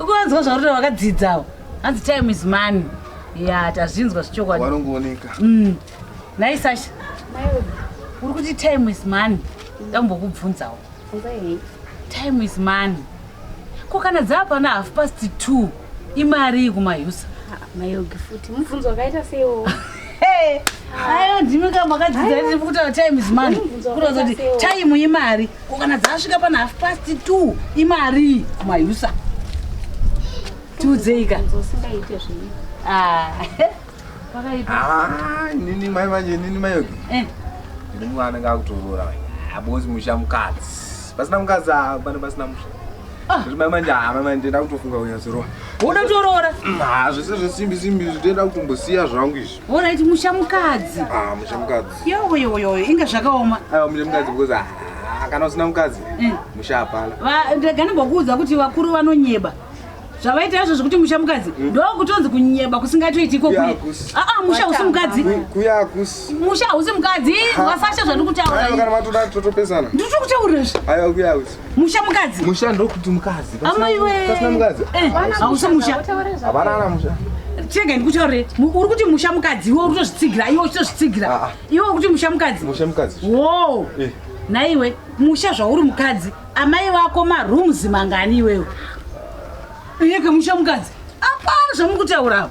ukavanzwa zvaurota vakadzidzawo hanzi time is money ya tazvinzwa zvichokwadi vanongooneka mm. nhai sasha uri kuti time is money ndambokubvunzawo time is money ko kana dzava pana half past two imari iyi kumayusa mayogi futi mubvunzo wakaita seiwo ayo ndimi ka makadzidza kuti time is money kutoza kuti time imari ko kana dzasvika pana half past two imarii kumayusa tiudzeika ndosingaite zvii Ah, pakaipa Ah, nini mai manje nini mai yoki Eh, nini mwana anenge akutorora manje abozi musha mukadzi pasina mukadzi ah, pane pasina musha Ah. Zviri mai manje ah, mai manje ndakutofunga kunyatsorova woda kutoroora hazvese zvesimbi simbi izvi ndoenda kutombosiya zvangu izvi Alright, musha mukadzi. Ah, musha mukadzi. Yo yo yo, inga zvakaoma. Ah, musha mukadzi because ah, ah kana usina mukadzi. Mm. Musha hapana. Va ndagana bokuudza kuti vakuru vanonyeba. Zvavaita izvo zvekuti musha mukadzi mm. ndo kutonzi kunyeba kusingatoiti iko kuye. Ah ah, musha usi mukadzi. Kuya kus. Musha usi mukadzi, wasasha zvandikutaura. Kana matoda totopesana. Ndikutokutaura izvi. Ayo kuya kus. musha mukadzi musha ndokuti mukadzi amaiwepasina mukadzi eh, hausi musha hapana ana musha chega ndikutaurire uri kuti musha mukadzi iwe uri kutozvitsigira iwe uchitozvitsigira ah, ah. iwe uri kuti musha mukadzi musha mukadzi wo eh. naiwe musha zvauri mukadzi amai vako marooms mangani iwewe iyeke musha mukadzi apana zvamuri kutaurawo